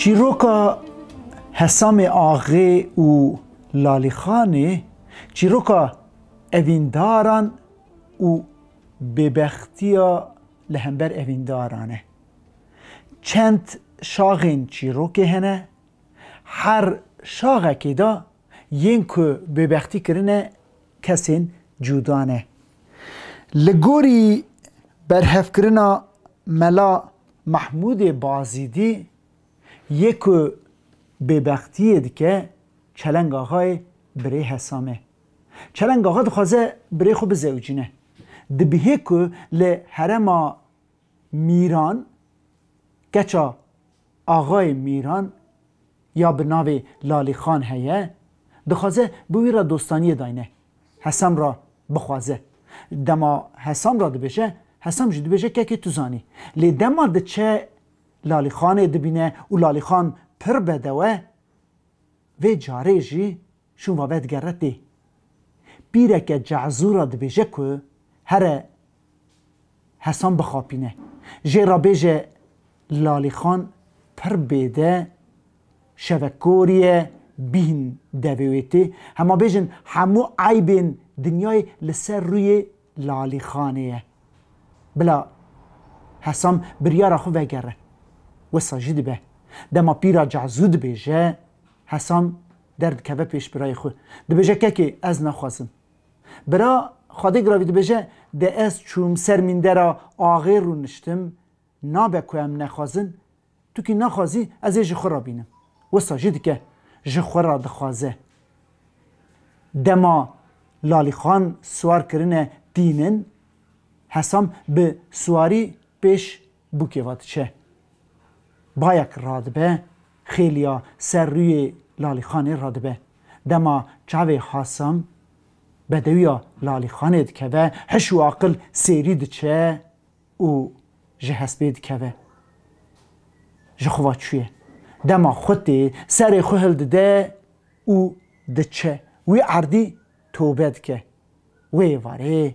Çîroka Hesamê Axê û Lalîxanê çîroka evîndaran û bêbextiya li hember evîndaran e. Çend şaxên çîrokê hene, her şaxekê de yên ku bêbextî kirine kesên cuda ne. Li gorî berhevkirina Mela Mehmûdê Bazidî yê ku bêbextiyê dike Çeleng Axayê birê Hesam e. Çeleng Axa dixwaze birê xwe bizewicîne. Dibihê ku li herema Mîran, keça Axayê Mîran ya bi navê Lalîxan heye, dixwaze bi wî re dostaniyê dayne, Hesam re bixwaze. Dema Hesam re dibêje, Hesam jî dibêje kekê tu zanî. Lê dema diçe Lalîxanê dibîne û Lalîxan pir bedewe, vê carê jî. Şûn vabe digere tê. Pîreke ce'zûra dibêje ku here Hesan bixapîne. Jê re bêje Lalîxan pir bêde şevekorî ye bîhn devê wê tê. Hema bêjin hemû eybên dinyayê li ser rûyê Lalîxanê ye. Bila Hesan biryara xwe vegere. Wisa jî dibe. Dema pîra ce'zû dibêje Hesan. Derdikeve pêş birayê xwe. Dibêje kekê ez naxwazim. Bira Xwedê Giravî dibêje de ez çûm ser mîndera axê rûniştim, nabe ku em nexwazin, tu kî naxwazî ez ê ji xwe re bînim. Wisa jî dike, ji xwe re dixwaze. Dema Lalîxan siwar kirine tînin, Hesam bi siwarî pêş Bûkê va diçe. Bayek radibe, xêliya ser rûyê Lalîxanê radibe. Dema çavê Hasan bedewiya Lalîxanê dikeve, hiş û aqil sêrî diçe û ji hespê dikeve. Ji xwe va çûye. Dema xwe tê, serê xwe hildide û diçe. Wî erdî tobe dike. Wê êvarê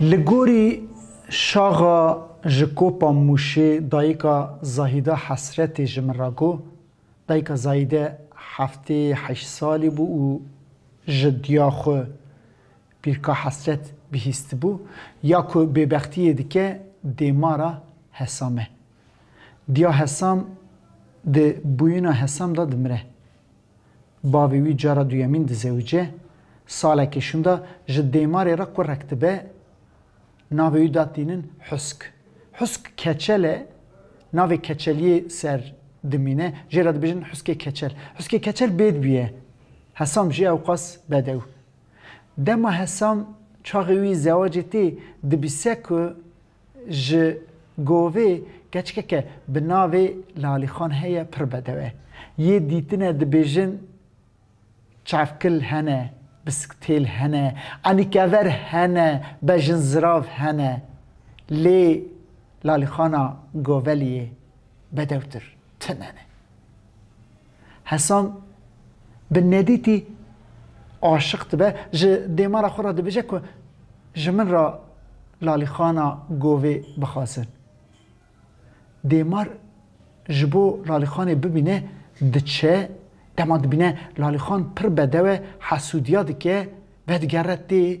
Li gorî şaxa ji Kopa Mûşê dayika Zahîde Hesretê ji min re got, Dayika Zahîde heftê heşt salî bû û ji diya xwe Pîrka Hesret bihîstibû. Ya ku bêbextiyê dike dêmara Hesam e. Diya Hesam di bûyina Hesam de dimire. Bavê wî cara duyemîn dizewice, salekê şûnda ji Dêmarê re kurek dibe, navê wî da tînin Husk. Husk keçel e, navê keçeliyê ser dimîne, jê re dibêjin Huskê Keçel. Huskê Keçel bêd bûye, Hesam jî ewqas bedew. Dema Hesam çaxê wî zewacê tê, dibîse ku Ji govê keçikeke bi navê Lalîxan heye pir bedew e. Yê dîtine dibêjin çavkil hene, bisiktêl hene, enîkever hene, bejinzirav hene. Lê Lalîxana goveliyê bedewtir tune ne. Hesan bi nedîtî aşiq dibe, ji dêmara xwe re dibêje ku ji min re Lalîxana govê bixwazin. Dêmar ji bo Lalîxanê bibîne diçe, dema dibîne Lalîxan pir bedew e, hesûdiya dike, vedigere tê.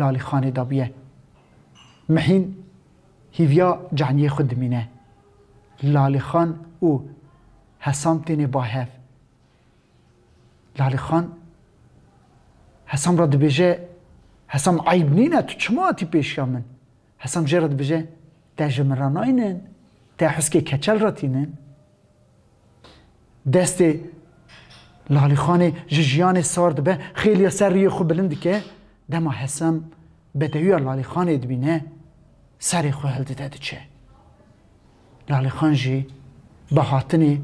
lalîxanê de bûye. Mehîn hîviya caniyê xwe dimîne. Lalîxan û Hesam têne ba hev. Lalîxan Hesam re dibêje, Hesam eyb nîne tu çima hatî pêşiya min? Hesam jê re dibije, Te ji min re nayînin, te huskê keçel re tînin. Destê Lalîxanê ji jiyanê sar dibe, xêliya ser riyê xwe bilind dike, dema Hesam bedewiya Lalîxanê dibîne, serê xwe hildide diçe. Lalîxan jî bi hatinê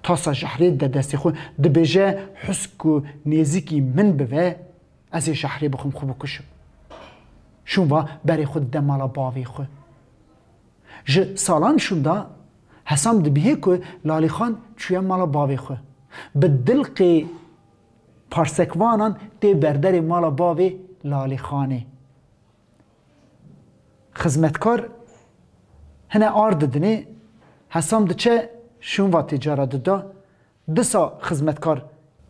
tasa jahrê dide destê xwe, dibêje husk ku nêzîkî min bive, Ez ê şehrê bixwim xwe bikuşim. Şûnva berê xwe dide mala bavê xwe. Ji salan şûnda Hesam dibihê ku Lalîxan çûye mala bavê xwe. Bi dilqê parsekvanan tê berderê mala bavê Lalîxanê. Xizmetkar hine ar didinê, Hesam diçe şûnva tê cara dida, Disa xizmetkar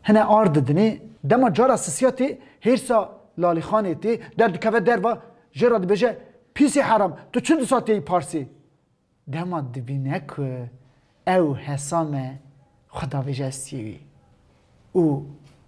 hine ar didinê, dema cara sisiya tê hêrsa Lalîxanê tê, der dikeve derva jê re dibêje Pîsê heram tu çi disa têyî parsê? Dema dibîne ku ew hesa me xwe davêje ez tiyê wî û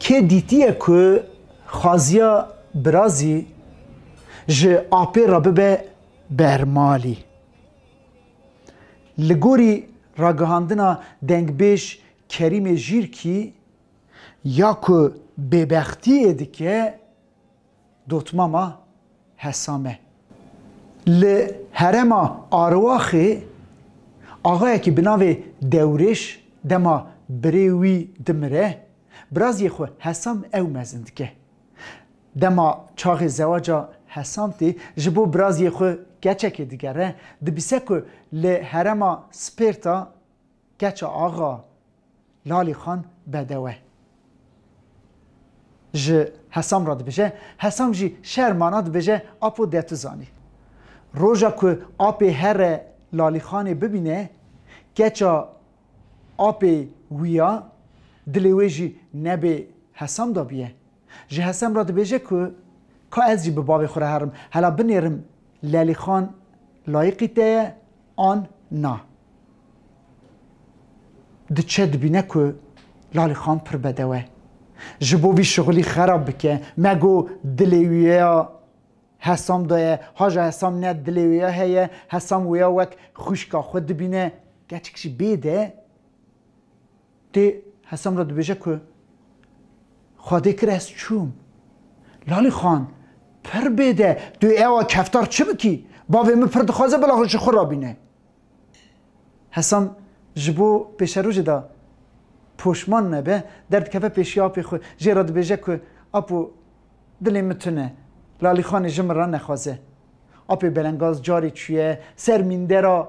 Kê dîtiye ku xwaziya birazî ji apê re bibe bermalî? Li gorî ragihandina dengbêj Kerîmê Jîrkî, ya ku bêbextiyê dike, Dotmama Hesame li herêma Arwaxê axayekî bi navê Dewrêş dema birê wî dimire, biraziyê xwe Hesam ew mezin dike. Dema çaxê zewaca Hesam tê, ji bo biraziyê xwe keçekê digere, dibise ku li herêma Spêrta Keça axa Lalî xan bedewe ji Hesam re dibêje, Hesam jî şer mana dibêje Apo de tu zanî. Roja ku apê here Lalî xanê bibîne, keça apê wî ya, dilê wê jî nebê Hesam dabûye. Ji Hesem re dibêje ku ka ez jî bi bavê xwe re herim, hela binêrim Lelîxan layiqî te ye an na. Diçe dibîne ku Lalîxan pir bedew e. Ji bo vî şixulî xerab bike, me got dilê wî ya Hesam de ye, haja Hesam ne dilê wê ya heye, Hesam wê ya wek xwîşka xwe dibîne, keçik jî bê de. Tê Hesam re dibêje ku Xwedê kir ez çûm. Lalî Xan, Pir bêde, tu ê ewa keftar çi bikî? Bavê min pir dixwaze bila ji xwe re bîne. Hesam ji bo pêşerojê de poşman nebe, derdikeve pêşiya apê xwe. Jê re dibêje ku Apo, dilê min tune. Lalî Xanê ji min re nexwaze. Apê belengaz carê çûye ser mîndera.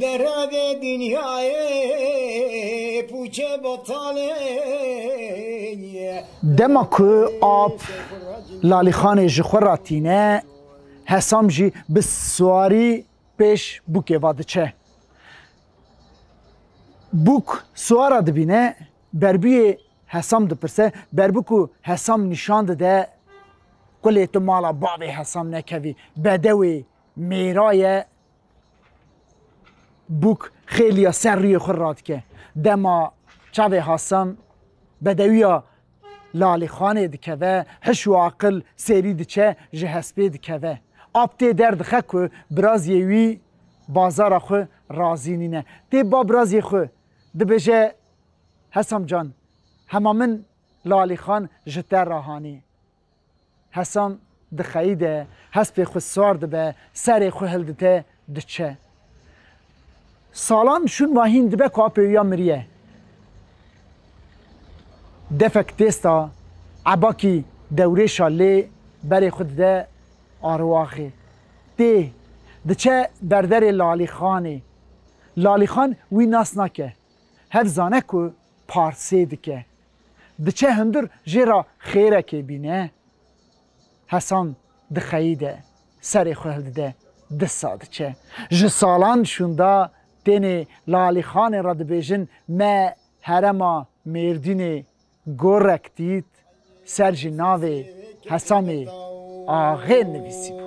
Li revê dinyayê pûçe betalê ye. Dema ku ap Lalîxanê ji xwe re tîne, Hesam jî bi swarî pêş bûkê ve diçe. Bûk swara dibîne, berbûyê Hesam dipirse, berbû ku Hesam nîşan dide, Qulê tu mala bavê Hesam nekevî, bedewê mêra ye, Bûk xêliya ser rûyê xwe radike. Dema çavê Hasan bedewiya Lalîxanê dikeve, hiş û aqil sêrî diçe ji hespê dikeve. Ap tê derdixe ku biraziyê wî bazara xwe razî nîne. Tê ba biraziyê xwe, dibêje Hesam can, hema min Lalîxan ji te re hanî. Hesan dixeyide, hespê xwe sar dibe, serê xwe hildite, diçe. Salan şûn ma hîn dibe ku apê wî ya miriye. Defek têsta, Ebakî dewrêşa lê berê xwe dide arwaxê. Tê, diçe berderê Lalîxanê. Lalîxan wî nas nake. Hev zane ku parsê dike. Diçe hundir jê ra xêrekê bîne. Hesan dixeyîde, serê xwe hildide, disa diçe. Ji salan şûnda tênê Lalîxanê ra dibêjin me herema Mêrdînê gorek dît, ser jî navê Hesamê Axê nivîsîbû.